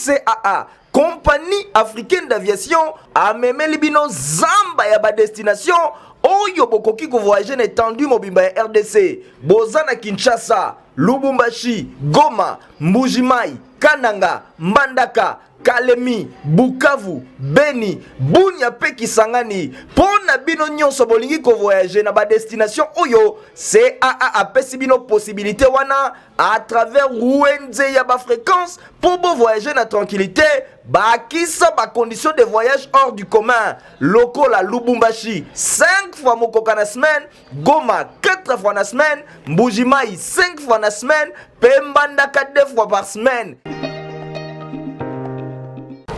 CAA compagnie africaine d'aviation amemeli bino zamba ya badestination oyo bokoki kovoyage na étendue mobimba ya rdc boza na kinshasa lubumbashi goma mbujimai kananga mbandaka Kalemi, Bukavu, Beni, Bunia pe Kisangani. Pona bino nyonso bolingi ko voyager na ba destination oyo CAA apesi bino possibilité wana à travers Wenze ya ba fréquence pour bo voyager na tranquillité bakisa ba conditions de voyage hors du commun lokola Lubumbashi 5 fois mokoka na semaine Goma 4 fois na semaine, Mbujimai 5 fois na semaine, Pembandaka 2 fois par semaine.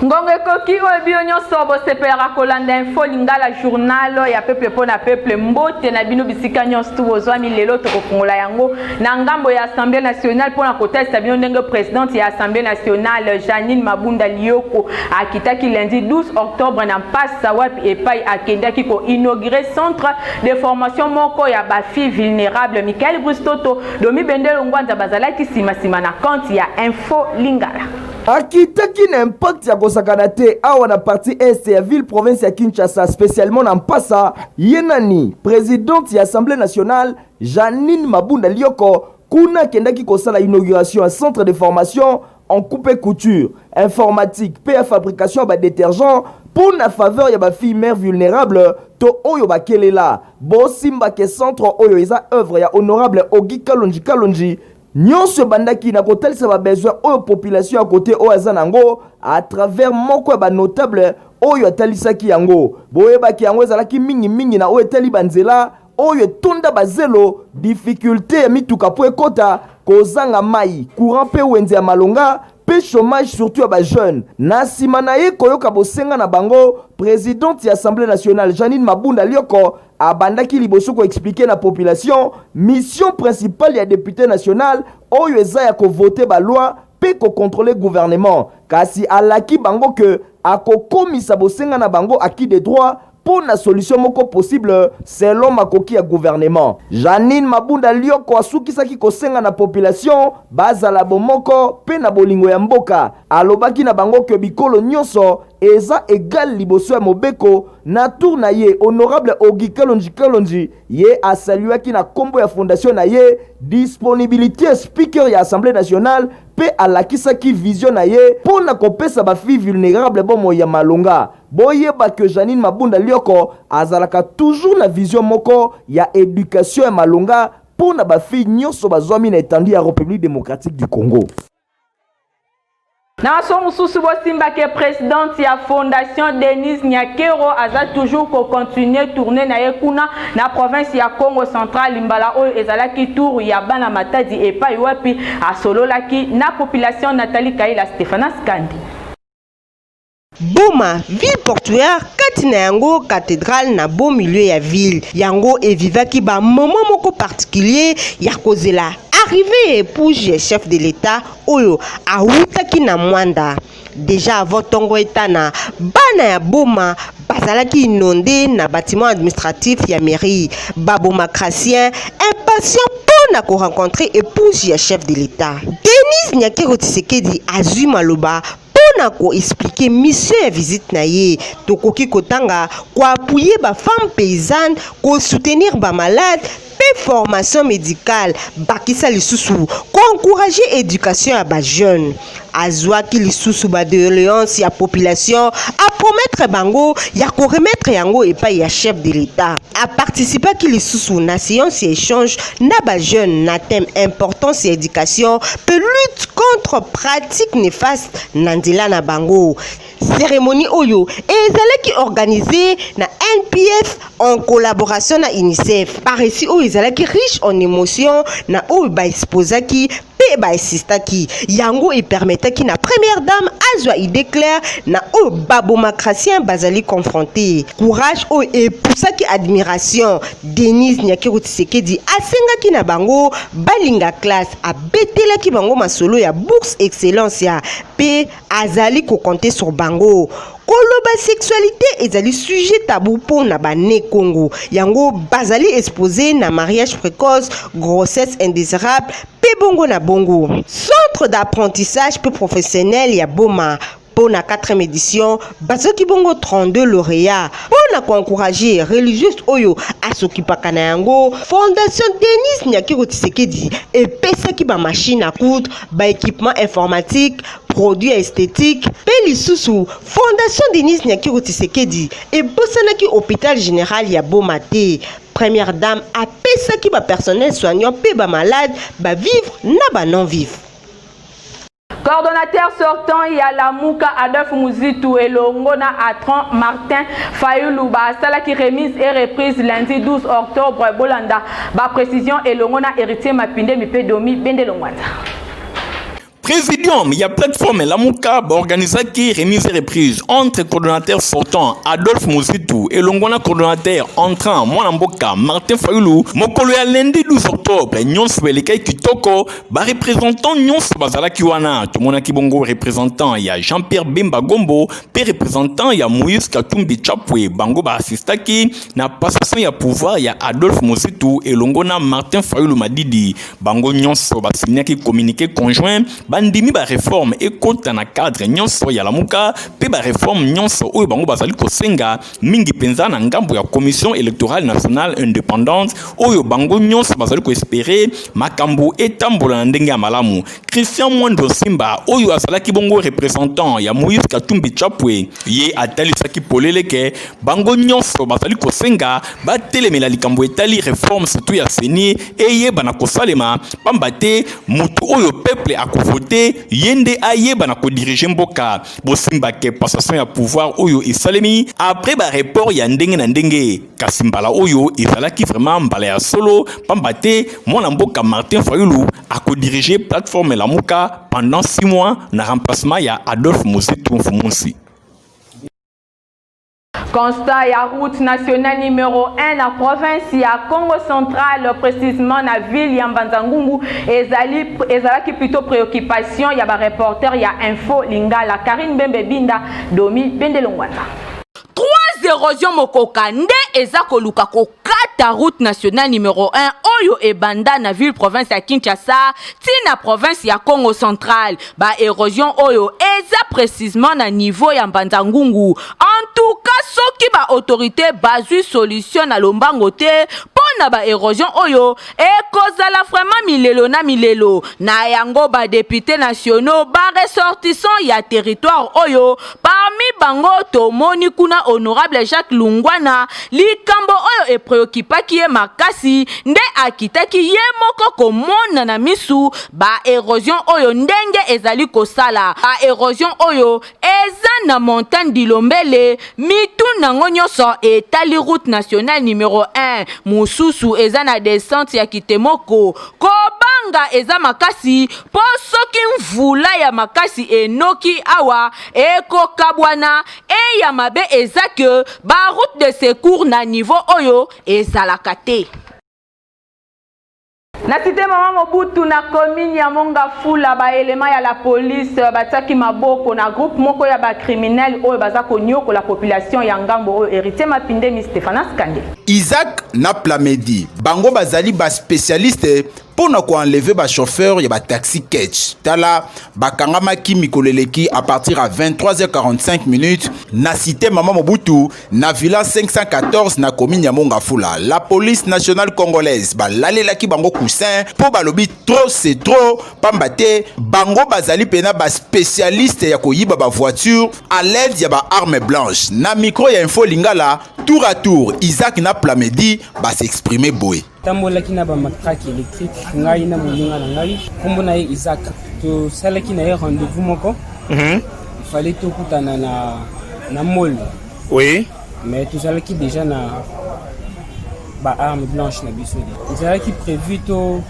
ngongo ekoki oyo bino nyonso bosepelaka kolanda info lingala journal ya peuple mpo na peuple mbote na bino bisika nyonso tu bozwami lelo tokofungola yango na ngambo ya assemblée nationale mpo na kotalisa bino ndenge presidente ya assemblée nationale janine mabunda lioko akitaki lundi 12 octobre na mpasa wapi epai akendaki koinaugure centre de formation moko ya ba filles vulnerables Michael Bruce Toto, Domi Bendelo Ngwanza bazalaki sima sima na compte ya Info Lingala. Akitaki na impact ya kosakana te awa na parti est ya ville province ya Kinshasa spécialement na Mpasa ye nani presidente ya Assemblée nationale Janine Mabunda Lioko kuna akendaki kosala inauguration ya centre de formation en coupe et couture, informatique, mpe ya fabrication ya ba detergents mpo na faveur ya ba filles mères vulnerables to oyo bakelela. Bosimba ke centre oyo eza oeuvre ya Honorable Auguy Kalonji Kalonji. Nionso ebandaki na kotalisa ba besoins oyo population ya cote oyo aza na yango à travers moko ya ba notables oyo atalisaki yango. Boyebake yango ezalaki mingi mingi na oyo etali ba nzela, oyo etonda bazelo, dificulte ya mituka mpo ekota, kozanga mai, courant mpe wenze ya malonga mpe chômage surtout ya bajeune. Na nsima na ye koyoka bosenga na bango, presidente ya Assemblee nationale Jeanine Mabunda Lioko abandaki liboso ko expliquer na population mission principale ya depute national oyo eza ya ko voter ba lois mpe ko controler gouvernement kasi alaki bango que akokomisa bosenga na bango acquis de droit mpo na solution moko possible selon makoki ya gouvernement. Jeanine Mabunda Lioko asukisaki kosenga na population bazala bomoko mpe na bolingo ya mboka. Alobaki na bango que bikolo nionso eza egal liboso ya mobeko. Na tour na ye, honorable Auguy Kalonji Kalonji ye a saluaki na kombo ya fondation na ye disponibilite ya speaker ya Assemblee nationale mpe alakisaki vision na ye mpo na kopesa ba filles vulnerables bomoi ya malonga. Boyeba que Jeanine Mabunda Lioko azalaka toujours na vision moko ya education ya malonga mpo na ba filles nionso bazwami na etendue ya Republique democratique du Congo. Na maso mosusu bosimba ke presidente ya Fondation Denise Nyakero aza toujours ko continuer tournee na ye kuna na province ya Congo central. Mbala oyo ezalaki tour ya bana Matadi epai wapi asololaki na population. Nathalie Kaila Stephanas Kandi. Boma, ville portuaire kati na yango cathedrale na beau milieu ya ville yango evivaki ba moment moko particulier ya kozela arrivee ya épouse ya chef de l'etat oyo awutaki na mwanda deja avant ntongo etana bana ya boma bazalaki inonde na bâtiment administratif ya mairie babomacratien impatient mpo na korencontre épouse ya chef de l'etat denise nyakero tisekedi azwi maloba mpona ko expliquer mission ya visite na ye tokoki kotanga ko appuyer ba femmes paysannes ko soutenir ba malades mpe formation médicale bakisa lisusu ko encourager éducation ya ba jeunes azwaki lisusu ba doléances ya population a promettre bango ya ko remettre yango epai ya chef de l'État a participaki lisusu na séance ya échange na ba jeunes na thème importance ya éducation mpe lutte contre pratique néfaste na nzela na bango cérémonie oyo ezalaki organisée na NPF en collaboration na UNICEF. Paresi oyo ezalaki riche en émotion na oyo ba exposaki mpe baesistaki yango epermetaki na première dame azwa idée claire na oyo babomacratien bazali confronte courage oyo epusaki admiration denise nyakeru tisekedi asengaki na bango balinga classe abetelaki bango masolo ya bourse excellence ya mpe azali ko compter sur bango koloba sexualité ezali sujet tabou mpo na bane congo yango bazali expose na mariage précoce grossesse indésirable mpe bongo na bongo centre d'apprentissage mpe professionnel ya boma mpo na 4e édition bazoki bongo 32 lauréat mpo na koencourage religieuse oyo asokipaka na yango fondation denis nyakiro tisekedi epesaki bamashine à coudre ba équipement informatique produit ya esthétique mpe lisusu fondation denise nyakiro tisekedi ebosanaki hôpital général ya boma te première dame apesaki bapersonnel soignant mpe bamalade bavivre na banon vive Coordonnateur sortant ya Lamuka Adolphe Muzitu elongo na Atran Martin Fayulu basalaki remise et reprise lundi 12 octobre bolanda Ba precision elongo na Heritier Mapindemi mpe Domi Bende Longwanza. Présidium, il y a plateforme Lamuka organisaki remise et reprise entre coordonnateur sortant Adolphe Muzitu et longona coordonnateur entrant mwana mboka Martin Fayulu mokolo ya lundi 12 octobre nyonso elekaki kitoko ba représentant nyonso bazalaki wana tomonaki bongo représentant ya Jean-Pierre Bemba Gombo mpe représentant ya Moïse Katumbi Chapwe bango baassistaki na passation ya pouvoir ya Adolphe Muzitu elongo na Martin Fayulu Madidi bango nyonso basignaki communiqué conjoint bandimi ba réforme ekota na cadre nyonso ya lamuka mpe ba réforme nyonso oyo bango bazali kosenga mingi mpenza na ngambo ya commission électorale nationale indépendante oyo bango nyonso bazali koespere makambo etambola na ndenge ya malamu Christian Mwando Nsimba oyo azalaki bongo représentant ya Moïse Katumbi Chapwe ye atalisaki polele ke bango nyonso bazali kosenga batelemela likambo etali reforme surtout ya CENI eyebana kosalema pamba te motu oyo peuple akovote ye nde ayebana kodirige mboka bosimba ke passation ya pouvoir oyo esalemi après ba report ya ndenge na ndenge kasi mbala oyo ezalaki vraiment mbala ya solo pamba te mwana mboka martin fayulu akodirige plateforme lamuka pendant 6 mois na remplacement ya adolphe mosetu mfumunsi Constat ya route nationale numéro 1 na province ya Congo central précisément na ville ya Mbanza-Ngungu ezali ezalaki plutôt préoccupation ya ba reporter ya Info Lingala Karine Bembe Binda Domi Bende Longwana Trois erosion mokoka nde eza koluka kokata route nationale numero 1 oyo ebanda na ville province ya Kinshasa ti na province ya Congo central. Ba erosion oyo eza precisement na niveau ya Mbanza Ngungu. En tout cas soki ba autorites bazwi solution na lombango te mpo na ba erosion oyo, ekozala vraiment milelo na milelo na yango ba députés nationaux ba ressortissants ya territoire oyo parmi bango tomoni kuna honorable Jacques Lungwana likambo oyo epreokipaki ye makasi nde akitaki ye moko komona na misu ba erosion oyo ndenge ezali kosala ba erosion oyo eza na montagne dilombele mitu nango nyonso etali route nationale numero 1 mosusu eza na descente ya kitemoko kobanga eza makasi mpo soki mvula ya makasi enoki awa ekokabwana eya mabe eza ke ba route de secours na niveau oyo ezalaka te Na cite Mama Mobutu na commune ya Mongafula, ba elements ya la police batiaki maboko na groupe moko ya ba criminels oyo baza koniokola population ya ngambo oyo Heritier Mapindemi, Stephanas Kande. Isaac na Plamedi, bango bazali ba specialistes mpo na koenleve ba chauffeurs ya ba taxi catch. Tala, bakangamaki mikolo eleki à partir ya 23h45 minutes na cite Mama Mobutu Na villa 514 na commune ya Mongafula, la police nationale congolaise balalelaki bango coussin mpo balobi trop c'est trop, pamba te bango bazali pena ba spécialiste ya koyiba ba voiture à l'aide ya ba armes blanches. Na micro ya Info Lingala, tour à tour Isaac na Plamedi ba s'exprimer boye. tambolaki na bamatrake électrique ngai na moninga na ngai nkombo na ye isaac tosalaki na ye rendez-vous moko mhm. ifale tokutana na na mol oui mais tozalaki déjà na baarme blanche na biso ezalaki prévu to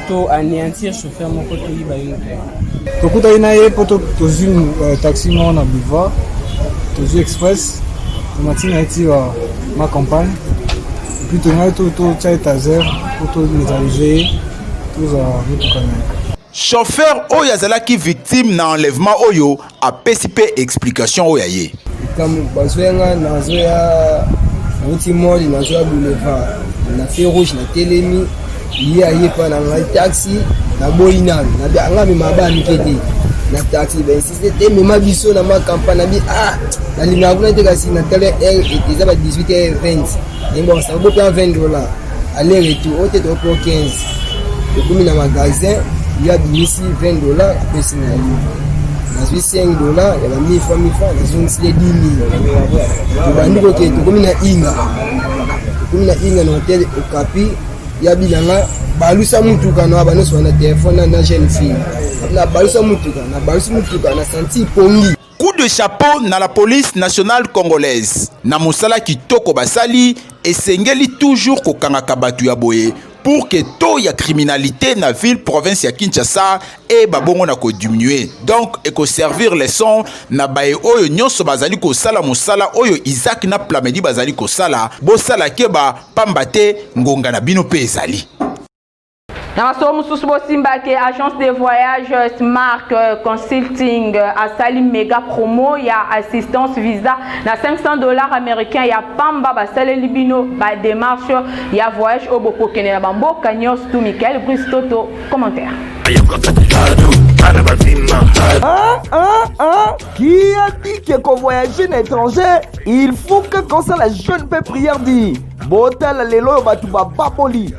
to aneantir chauffeur moko toyiba ye moto tokutaki na ye mpo tozwi euh, taxi moko na boulevard tozwi express tomati na ye ti euh, ma campagne epuis tongaki totya ye taser mpo tometalize ye tozwa motuka na ye chauffeur oyo azalaki victime na enlèvement oyo apesi mpe explication oyo ya ye likambo bazoya nga nazoya nauti moli nazoya boulevard na fe rouge na telemi ye aye mpa na ngai taxi naboyi nanu nga mema baa mike te na taxi bainsiste te mema biso na makampa na bi ah nalingaka kuna te kasi natala eza ba 18 20 yango bakasaka bopea 20 dollar aller retour oyo te toko po 15 ekomi na magasin ye abimisi 20 dollar apesi na ye nazwi 5 dollar ya ba mille fois mille fois nazongisi ye 10 mille tobandi koke tokomi na inga tokomi na inga na hotel okapi ya bilanga balusa mutuka na banoso wana telefone na jeune fille na balusa mutuka na balusi mutuka na santi pongi Coup de chapeau na la police nationale congolaise na mosala kitoko basali, esengeli toujours kokangaka bato ya boye pour que taux ya criminalité na ville province ya Kinshasa et babongo na ko diminuer. Donc eko servir leçon na baye oyo nyonso bazali kosala mosala oyo Isaac na Plamedi bazali kosala, bosala keba pamba te ngonga na bino pe ezali. Na masolo mosusu bosimba ke agence de voyage euh, Smart euh, Consulting euh, asali mega promo ya assistance visa na 500 dollars américains ya pamba basaleli bino ba démarche ya voyage oyo bokokende na bamboka nyonso tu Michael Brice Toto commentaire Ah, ah, ah. Qui a dit que qu'on voyager na étranger, il faut que qu'on soit la jeune peu prière dit. Bota la lelo batu bababoli.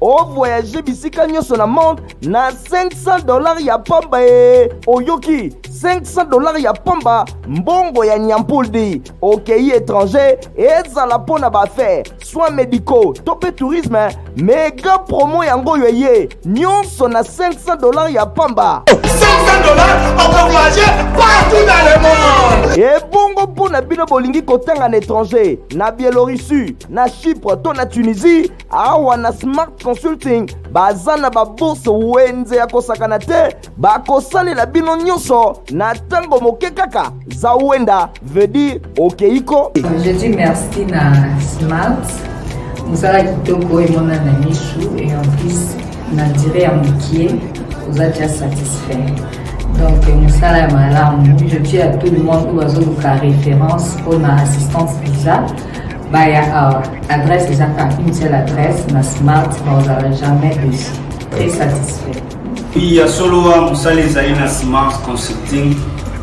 ovoyage bisika nyonso na monde na 500 dollars ya pamba e oyoki 500 dollars ya pamba mbongo ya nyampuldi okei étranger ezala mpo na baaffaire soins médicaux to mpe tourisme mega promo yango oyo eye nyonso na 500 dollars ya pamba 500 dollars okovoyage partout dans le monde ebongo mpo na bino bolingi kotanga na étranger na biélorussie na chypre to na tunisie awa na smart consulting baza na babourse wenze ya kosakana te bakosalela bino nyonso na ntango moke kaka za wenda vedi okeiko je dis merci na smart mosala kitoko emonana misu et en plus na dire ya mokie oza deja satisfait donc mosala ya malamu je dis à tout le monde oyo bazoluka référence mpona assistance visa baya awa adresse eza kaka une seule adresse na smart bakozala jamais deçu très satisfait ya solo wa mosala ezali na smart consulting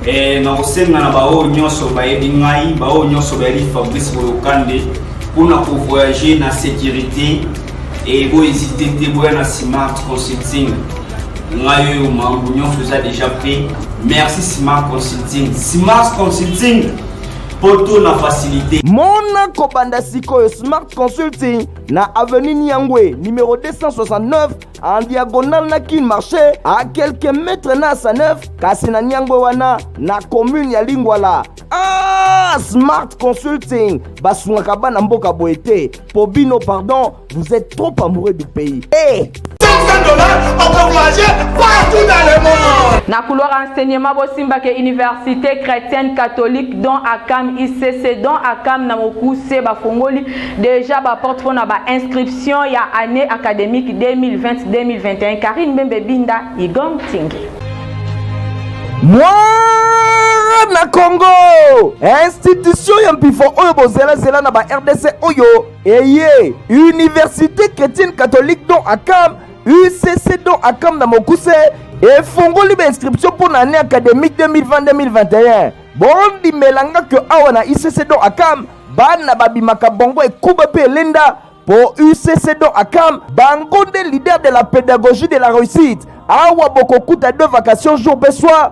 e, na kosenga na baoyo nyonso bayebi ngai baoyo nyonso bayebi fabrice boyokande mpona kovoyage na sécurité e bohésite te boya na smart consulting ngai oyo makambo nyonso eza déjà prêt merci smart consulting smart consulting poto na facilité mona kobanda sikoyo smart consulting na avenue niangwe numero 269 en diagonale na kin marché a quelques mètres na asa 9 kasi na niangwe wana na commune ya lingwala ah, smart consulting basungaka bana mboka boye te po bino pardon Vous êtes trop amoureux du pays. Hey! na couloir enseignement bosimbaka université chrétienne catholique don akam icc don akam na mokuse bafongoli déjà baporte mpo na bainscription ya année académique 2020-2021 karine mbembe binda igom tingi mwana congo institution ya mpifo oyo bozelazela na ba rdc oyo eye université chrétienne catholique don akam ucc don akam na mokuse efongoli bainscription mpo na année académique 2020-2021 bondimela nga ke awa na ucc don akam bana babimaka bongo ekuba mpe elenda mpo ucc don akam bango nde leader de la pédagogie de la réussite awa bokokuta de vacation jour mpe soir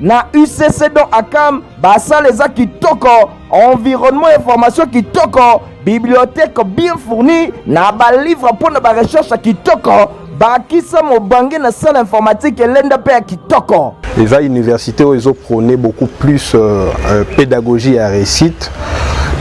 na ucc don akam basala eza kitoko environnement ya formation kitoko bibliothèque bien fourni na balivre mpo na barecherche kitoko bakisa mobange na salle informatique elenda mpe ya kitoko eza université oyo ezoprône beaucoup plus euh, euh, pédagogie ya réussite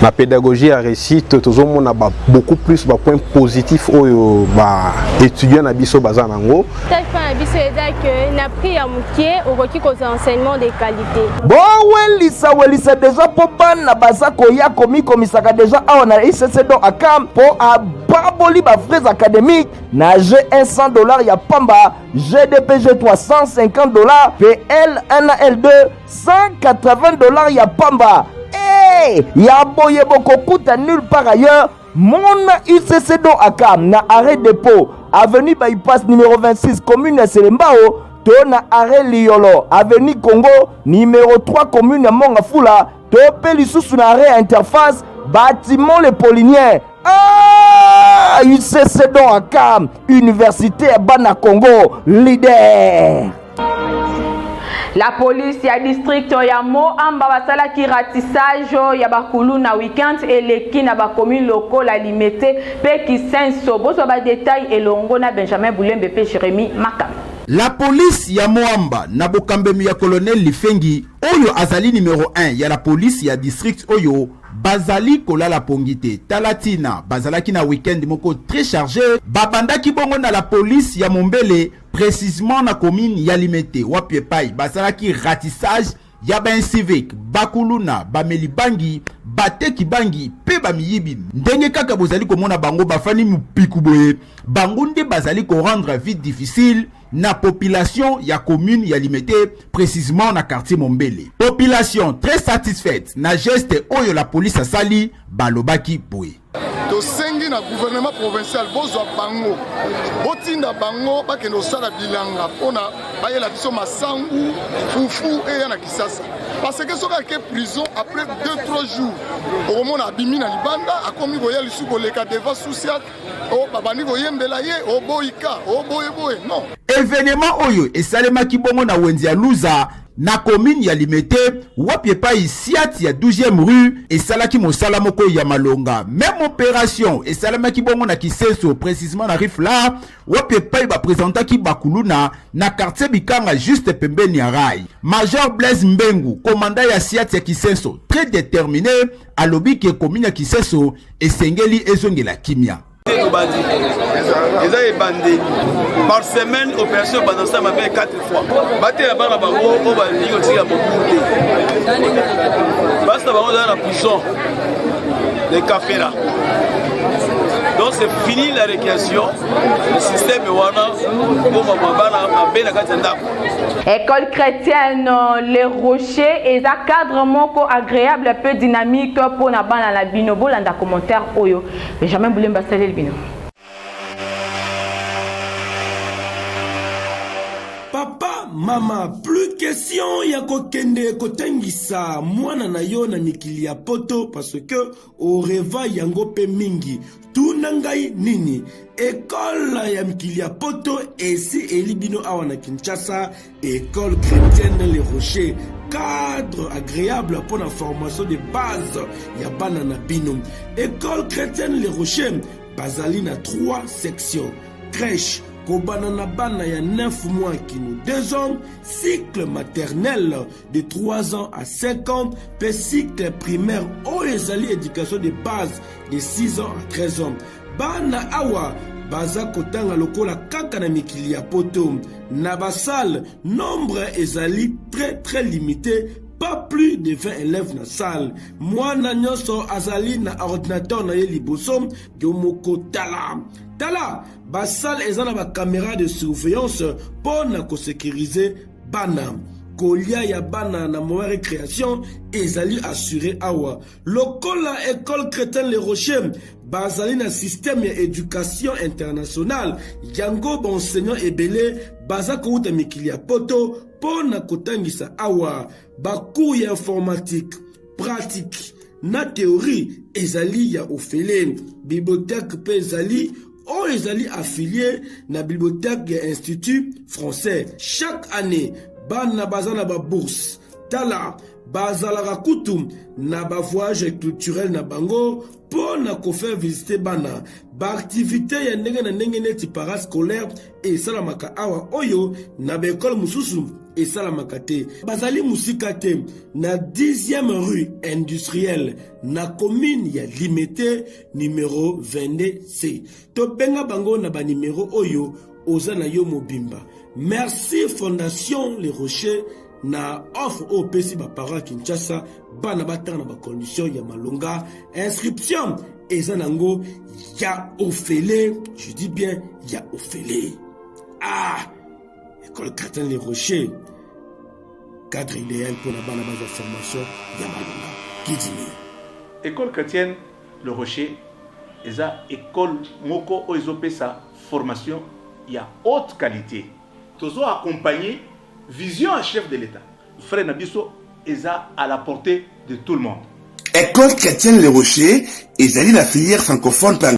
na pédagogie ya réussite tozomona beaucoup plus bapoint positif oyo baétudiant na biso baza na yango Stage plan na biso eza que na prix ya moke okoki kozwa enseignement de qualité. bowelisa welisa deja mpo bana baza koya komikomisaka deja awa na icc don akam mpo ababoli bafrais académique na g1 100 dollars ya pamba gdpg 350 dollars mpe l1 na l2 180 dollars ya pamba e ya boye bokokuta nulle part ailleurs Mon UCC do aka na arrêt depot avenue bypass numéro 26 commune ya Selembao to na arrêt Liolo avenue Congo numéro 3 commune ya Mongafula to pe lisusu na arrêt interface bâtiment le Polinien ah UCC do aka université ya bana Congo leader La police ya district ya Moamba basalaki ratissage ya bakulu na weekend eleki na bakomi lokola Limete pe Kisenso. Bozwa ba detail elongo na Benjamin Bulembe pe Jeremy Makam. La police ya Moamba na bokambemi ya colonel Lifengi oyo azali numero 1 ya la police ya district oyo bazali kolala pongi te tala tina bazalaki na weekend moko très charge babandaki bongo na la police ya mombele precisement na commune ya Limete wapi epai basalaki ratissage ya baincivique bakuluna bameli bangi bateki bangi mpe bamiyibi ndenge kaka bozali komona bango bafandi mopiku boye bango nde bazali korendre vie difficile na population ya commune ya limete précisément na quartier mombele population très satisfaite na geste oyo la police asali balobaki boye tosengi na gouvernement provincial bozwa bango botinda bango bakende kosala bilanga mpona bayela biso masangu fufu eya na kisasa parce que soki ake prison après 2-3 jours okomona abimi na libanda akomi koya lisusu koleka devant sousiat oh, babandi koyembela ye oboyika oh, oboyeboye oh, non evenema oyo esalemaki bongo na wenze ya luza na komini ya Limete wapi epai siati ya 12e rue esalaki mosala moko ya malonga. Meme operation esalamaki bongo na Kisenso, precisement na Rifla wapi epai bapresentaki bakuluna na quartier Bikanga juste pembeni ya rai. Major Blaise Mbengu, komanda ya siati ya Kisenso, très determine alobi ke komini ya Kisenso esengeli ezongela kimia. te tobandi eza ebandeli par semaine opération ebanda osala mabe 4 fois batela bana bango oyo balingi kotika mobulu te basi na bango ezala na prison de kafela donc c'est fini la récréation le système wana koma mwa bana mabe na kati ya ndako école chrétienne euh, le rocher eza cadre moko agréable peu dynamique mpo na bana na bino bolanda commentaire oyo Benjamin Bulemba asaleli bino. mama plus question ya kokende kotangisa mwana na yo na mikili ya poto parce que oreva yango mpe mingi tuna ngai nini ekole ya mikili ya poto esi eli bino awa na kinshasa Ecole chrétienne Les Rochers cadre agréable mpo na formation de base ya bana na bino ecole chrétienne le rocher bazali na 3 section crèche kobanda na bana ya 9 mois kino 2 ans cycle maternel de 3 ans à 5 ans mpe cycle primaire oyo ezali éducation de base de 6 ans à 13 ans Bana awa baza kotanga lokola kaka na mikili ya poto na basale nombre ezali très très limité pas plus de 20 élèves na salle mwana nyonso azali na ordinateur na ye liboso yo moko tala tala basale eza na bakamera de surveillance mpo na kosekirize bana kolia ya bana na moyen recréation ezali assure awa lokola ecole cretin le rocher bazali na systeme ya education internationale yango baenseignant ebele baza kowuta mikili ya poto mpo na kotangisa awa bacour ya informatique pratique na theorie ezali ya ofele bibliothèque mpe ezali oyo ezali affilie na bibliothèque ya institut français chaque année bana baza na babourse tala bazalaka kutu na ba voyage culturel na bango mpo na kofaire visite bana baaktivite ya ndenge na ndenge neti parascolaire esalamaka awa oyo na baekole mosusu esalamaka te bazali mosika te na 10e rue industrielle na commune ya limete numero 22c tobenga bango na banimero oyo oza na yo mobimba merci fondation le rocher na offre oyo opesi baparent ya kinshasa bana batanga na bacondition ya malonga inscription eza nango ya ofele je dis bien ya ofele ah ekole cartin le rocher cadre idéal mpo na bana bazwa formation ya malonga kidimi école chrétienne le rocher eza école moko oyo ezopesa formation ya haute qualité Tozo accompagner vision ya chef de l'etat. Frais na biso eza à la portee de tout le monde. Ecole chretienne le Rocher ezali na filière francophone mpe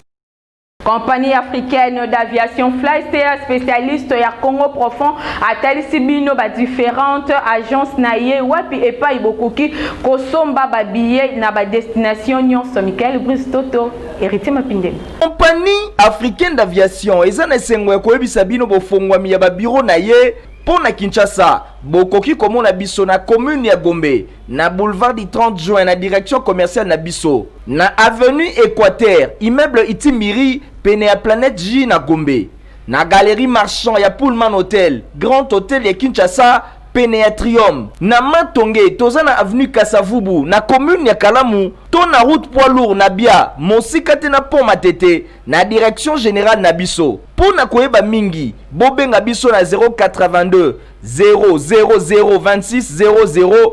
Compagnie africaine d'aviation Flystea specialiste ya Congo profond atalisi bino ba differentes agences na ye wapi epayi bokoki kosomba ba billets na ba destinations nionso. Michael Brice Toto, Heritier Mapindele. Compagnie africaine d'aviation eza na esengo ya koyebisa bino bofongwami ya babiro na ye mpo na Kinshasa. Bokoki komona biso na commune ya Gombe, na boulevard du 30 juin na direction commerciale na biso, na avenue Equateur, immeuble Itimiri, pene ya Planète J na Gombe, na galerie Marchand ya Pullman Hotel, Grand Hotel ya Kinshasa, pene ya Trium, na Matonge toza na avenue Kasavubu, na commune ya Kalamu to na route poids lourd na Bia, mosika te na pont Matete, na direction generale na biso. Mpo na koyeba mingi, bobenga biso na 082 000 26 00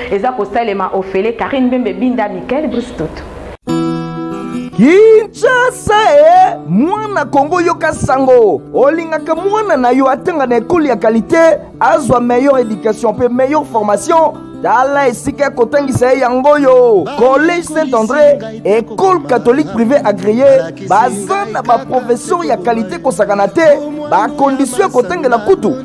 Eza kosalema ofele Carine Mbembe Binda Michael Brice Toto. Kinshasa e mwana Kongo yoka sango olingaka mwana na yo atanga na ekolo ya kalite azwa meilleure education mpe meilleure formation tala esika ya kotangisa ye yango oyo collège saint andré école catholique privé agréé baza na baprofesseur ya kalite kosakana te bakondisio ya kotangela kutu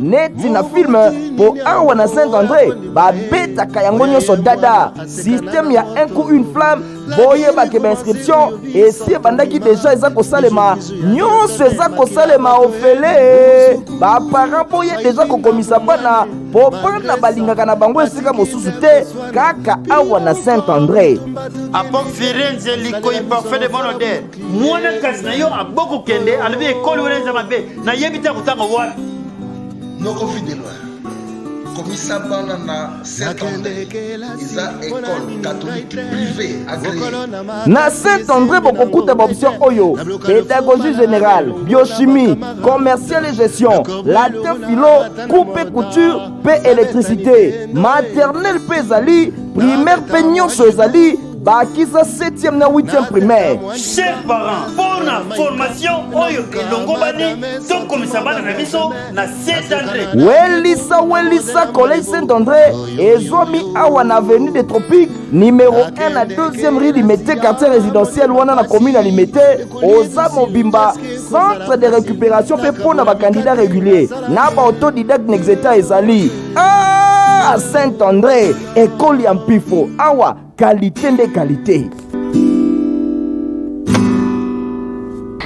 neti na filme mpo awa na saint andre babetaka yango nyonso dada systeme ya un coup une flamme boyebake bainscription esi ebandaki deja eza kosalema nyonso eza kosalema ofele baparent boye deja kokomisa bana mpo bana balingaka na bango esika mosusu te kaka awa na saint andre Apok Firenze, Likoi, parfait de bonne odeur. mwana kasi na yo aboko kende alobi ekolo wana eza mabe nayebi te akotanga wana noko fidelwa komisa bana na eza ekole katolike prive na saint andré bokokuta baoption oyo pédagogie générale biochimie commercial et gestion latin philo coupe couture mpe électricité maternel mpe ezali primaire mpe nyonso ezali bakisa 7e na 8e primaire cher parent mpo na formation oyo elongobani tokomisa bana na biso na saint andré welisa welisa collège saint andré ezwami awa na avenue de tropique numero 1 na 2e rue limete quartier résidentiel wana na commune ya limete oza mobimba centre de récupération mpe mpo na bakandidat régulier na baauto didacte na exeta ezali ah, saint andré ekoli ya mpifo awa kalite nde kalite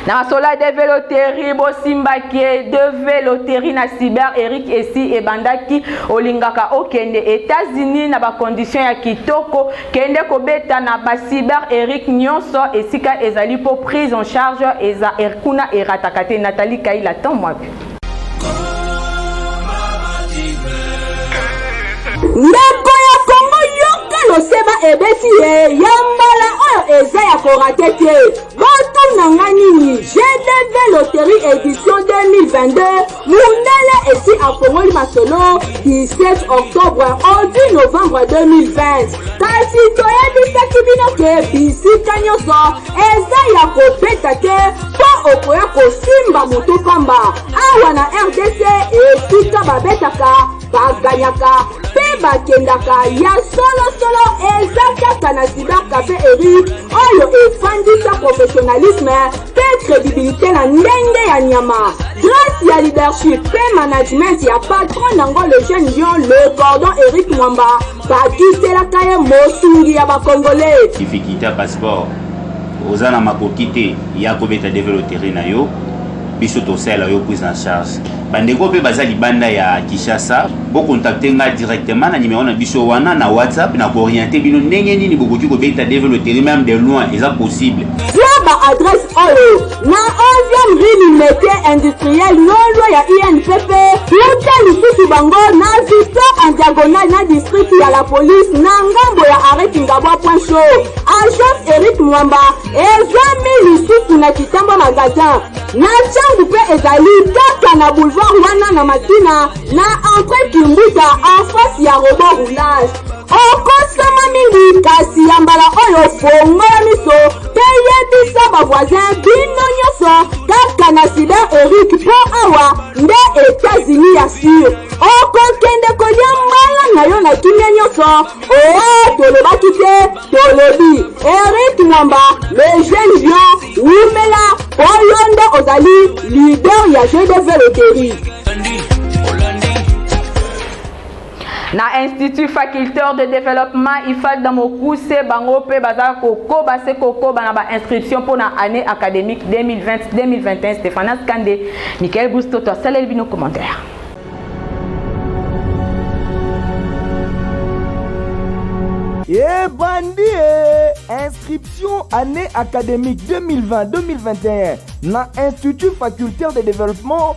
na sola de veloterie bosimbaki ye de veloterie na cyber eric esi ebandaki olingaka okende etats-unis na bacondition ya kitoko kende kobeta na bacyber eric nyonso esika ezali mpo prise en charge eza er, kuna erataka te natali kaila temps mwapi Ndeko ya Kongo yoka losema ebeti ye ya mbala oyo eza ya korate te botuna nga nini gdv loterie edition 2022 mundele esi afongoli masolo 17 octobre odi novembre 2020 kasi toyebisaki bino ke bisika nyonso Eza ya kobeta te po okoya kosimba moto pamba. Awa na rdc esika babetaka, baganyaka pe bakendaka ya solo solo eza kaka na Cyber Cafe Eric oyo efandisa professionnalisme pe credibilite na ndenge ya nyama. Grace ya leadership pe management ya patron nango le jeune lion le cordon Eric Mwamba Bakiselaka ye mosungi ya ba congolais. Kifikita passeport oza na makoki te ya kobeta deve loterie na yo biso tosalela yo prise en charge bandeko mpe baza libanda ya kinshasa bokontakte ngai directement na nimero na biso wana na whatsapp na kooriente bino ndenge nini bokoki kobeta deve loterie meme de loin eza possible zwa ba adresse oyo Na 11e rue du metier industriel lolwa ya INPP, uta lisusu bango na Victor en diagonale na district ya la police na ngambo ya arret Kingabwa point chaud. Agence Eric Mwamba ezwami lisusu na Kitamba magasin. Na changu pe ezali kaka na boulevard wana na Makina na entre Kimbuta en face ya robot roulage. okosama mingi kasi ya mbala oyo fongola miso mpe yebisa bavoisin bino nyonso kaka na sida erike mpo awa nde etats-unis ya sur okokende kolia mbala na yo na kimia nyonso oa tolobaki te tolobi erike mwamba le jeune lion wumela mpo yo nde ozali lider ya gdv loterie na institut faculteur de développement ifad na mokuse bango mpe baza kokoba se kokoba na bainscription mpo na année académique 2020-2021 stéphanas kande michael bustoto asaleli bino commentaire ebandi e inscription année académique 2020-2021 na institut facultaire de développement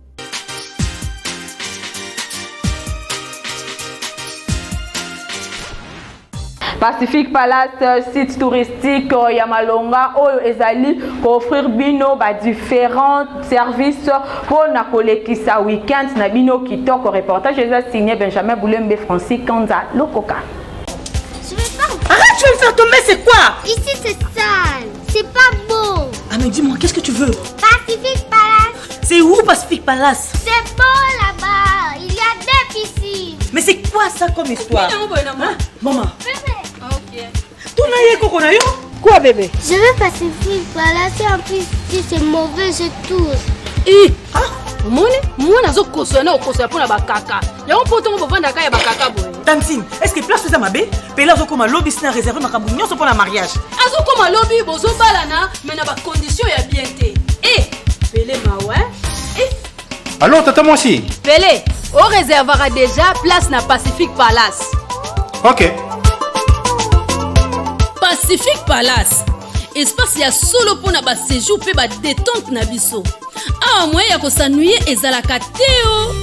Pacific Palace euh, site touristique euh, ya Malonga oyo ezali ko offrir bino ba différents services mpo na kolekisa week-end na bino kitoko. Reportage eza signé Benjamin Boulembe Francis Kanza Lokoka. Je vais faire... Arrête, tu vas me faire tomber, c'est quoi Ici c'est sale, c'est pas beau. Ah mais dis-moi, qu'est-ce que tu veux Pacific Palace C'est où Pacific Palace C'est beau là-bas, il y a deux piscines. Mais c'est quoi ça comme histoire hein? Maman. Ok. Ton aïe koko na yo Quoi bébé Je veux Pacific Palace en plus si c'est mauvais je tousse. Eh, ah, omoni mwana azokosola na okosola mpo na bakaka yango mpo ntongo bovandaka ya bakaka boye tantine estce place eza mabe pele azokoma lobi sina réserve makambo nyonso mpo na mariage azokoma lobi bozobalana me na bakondition ya bien te e eh, pele mawa e eh. alors tata mwasi pele oreservaka déjà place na pacifique palace ok pacifique palace espace ya solo mpo na basejour mpe badetente na biso awa moye ya kosanuye ezalaka te o oh.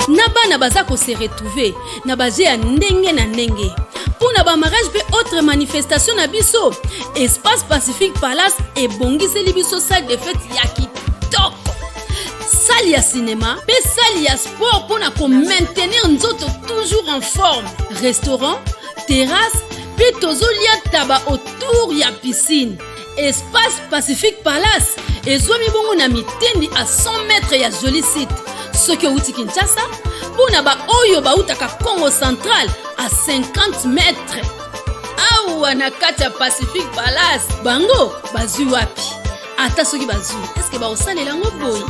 na bana baza kose retrouve na baje ya ndenge na ndenge mpo na bamarage mpe autre manifestation na biso espace pacifique palace ebongiseli biso salle de fete ya sali ya sinema mpe sali ya sport mpo na komaintenir nzoto toujours en forme restaurant terrasse mpe tozolia taba autour ya piscine espace pacifique palace ezwami bongo na mitendi a 100 mètre ya joli site soki outi kinshasa mpo na baoyo bautaka congo central a 50 mètre awa na kati ya pacifique palace bango bazwi wapi ata soki bazwi eske bakosalela yango boye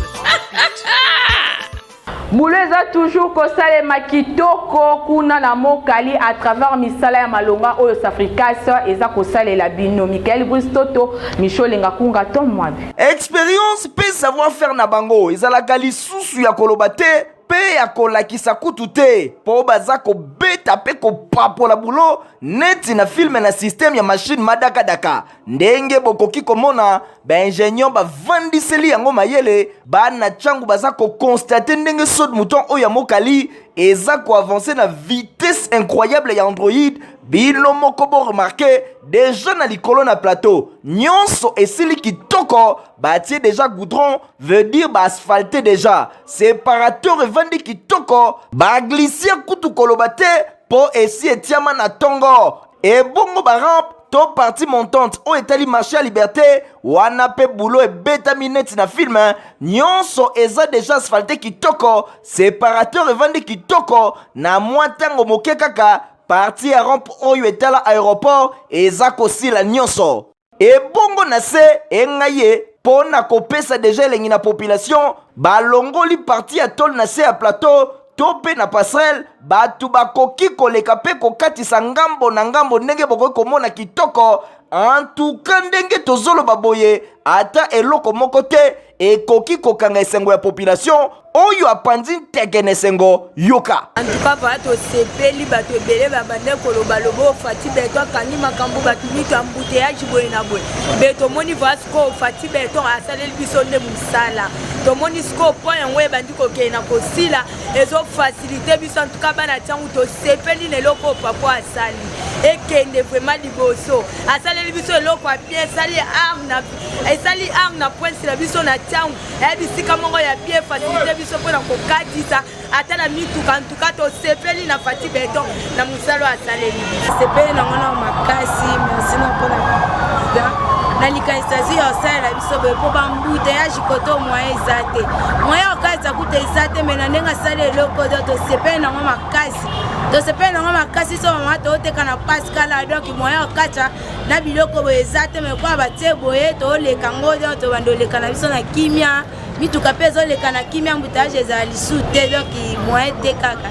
bulo eza toujours kosalema kitoko kuna na mokali à travers misala ya malonga oyo safricas eza kosalela bino michael bris toto micho olenga kunga to mwabi expérience mpe savoir faire na bango ezalaka lisusu ya koloba te mpe ya kolakisa kutu te mpo baza kobeta mpe kopapola bulo neti na filme na systeme ya mashine madakadaka ndenge bokoki komona baingenieur bavandiseli yango mayele bana ntango baza kokonstate ndenge sod mouton oyo ya mokali eza koavanse na vitesse incroyable ya android bino moko boremarke deja na likolo na plateau nyonso esili kitoko batie deja goudron veut dire baasphalte deja separateur evandi kitoko baglisia kutu koloba te mpo esi etiama na ntongo ebongo barampe to partie montante oyo etali marché ya liberté wana mpe bulo ebetami neti na film nyonso eza deja asphalte kitoko separateur evandi kitoko na mwa ntango moke kaka partie ya rompe oyo etala aéroport eza kosila nyonso ebongo na se engai ye mpo na kopesa deja elengi na population balongoli partie ya tole na se ya plateau to mpe na passerelle bato bakoki koleka mpe kokatisa ngambo na ngambo ndenge bokoki komona kitoko antuka ndenge tozoloba boye ata eloko moko te ekoki kokanga esengo ya population oyo apanzi nteke na esengo yoka antuka vala tosepeli bato ebele babande koloba lobo ofati beton akangi makambo bato mito ya mbuteyaji boye na boye mpe tomoni vala sikoyo ofati beton asaleli biso nde mosala tomoni sikoyo mpo yango ebandi kokende na kosila ezofasilite biso antuka bana ntango tosepeli na eloko oyo pako asali ekende vraiment liboso asaleli biso eloko ya bien esali arna esali arna prince na biso na ntango eya bisika moko ya bien fasilite biso mpo na kokatisa ata na mituka ka tosepeli na fati beton na mosala asaleli sepeli nango na makasi merci na mpona president na likanisi azwi ya osalela biso boye mpo bambuteyaji kote moyen eza te moyen okalisa kuta eza te mai na ndenge asali eloko to tosepeli nango makasi tosepeli nango makasi so mama tooteka na paskala donk moyen okatya na biloko boye eza te mai kwa batie boye tooleka ngo donk tobanda oleka na biso na kimia mituka mpe ezoleka na kimia embouteillage ezala lisu te donc moyen te kaka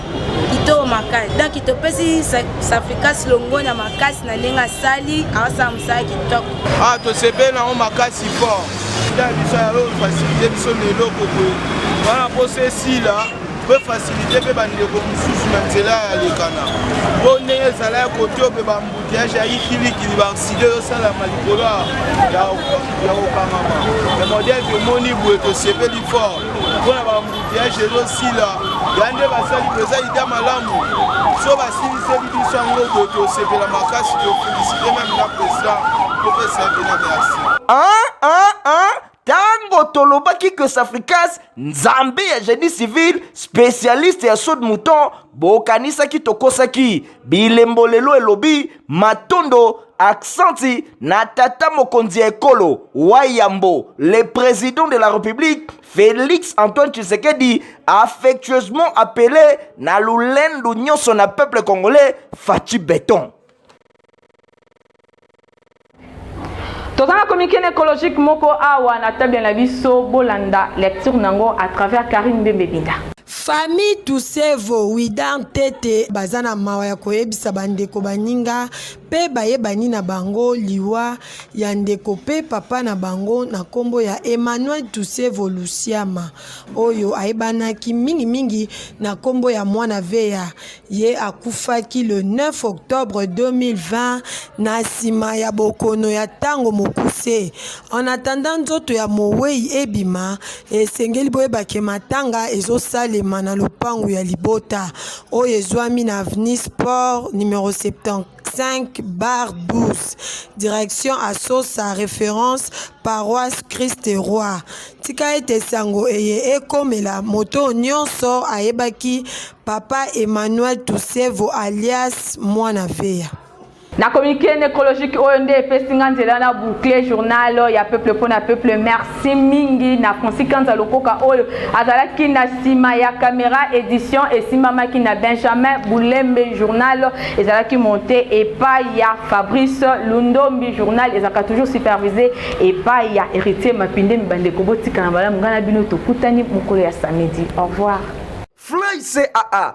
kitoko makasi donc topesi safricas longo na makasi na ndenge asali aosala mosala kitoko ah tosepeli nango makasi fort ya biso yayo fasilite biso na eloko boye wana mposa esila mpe fasilite mpe bandeko mosusu na nzela ya lekana mpo ndenge ezala ya kote ope Piège ya ikilikili ba accident ezosalama likolo ya kokangama ya modèle tomoni boye tosepeli fort mpo na baambuteage ezosila ya nde basali mpenza ida malamu so basiliseli biso yango boye tosepela makasi tofelisite meme na président topesa ye mpena merci Tango tolobaki que Safricas nzambe ya génie civil spécialiste ya saut de mouton bokanisaki tokosaki bilembo lelo elobi matondo aksanti na tata mokonzi ya ekolo wayambo le président de la république félix antoine tshisekedi affectueusement appelé na lolendo nyonso na peuple congolais faci beton toza na communiqué na écologique moko awa na table na biso bolanda lecture na yango à travers carine mbembebinda famille tusevo widar ntete baza na mawa ya koyebisa bandeko baninga mpe bayebani na bango liwa ya ndeko mpe papa na bango na nkombo ya emmanuel tusevo lusiama oyo ayebanaki mingimingi na nkombo ya mwana veya Ye akufaki le 9 octobre 2020 na sima ya bokono ya tango mokuse. En attendant nzoto ya moweyi ebima, esengeli boyeba ke matanga ezo salema na lopangu ya libota oyo ezwami na avenue Sport numero 74. 5 bar 12 direction asosa référence paroisse christ roi tika ete sango eye ekomela moto nyonso ayebaki papa emmanuel tusevo alias mwana veya na communiqué nécrologique oyo nde epesi nga nzela na boucle journal ya peuple mpo na peuple merci Merci mingi na Francis Kanza Lokoka oyo azalaki na sima ya camera edition esimbamaki na Benjamin Bulembe journal ezalaki monté epai ya Fabrice Lundombi journal ezalaka toujours supervisé epai ya Héritier Mapinde bandeko botika na malamu ngai na bino tokutani mokolo ya samedi au revoir Fly CAA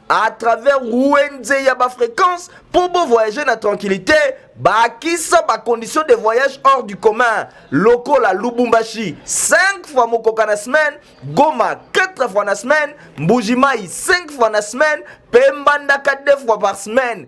à travers wenze ya bafréquence mpo bovoyage na tranquillité bakisa bacondition de voyage hors du commun lokola lubumbashi 5 fois mokoka na semaine goma 4 fois na semaine mbujimai 5 fois na semaine mpe mbandaka 2 fois par semaine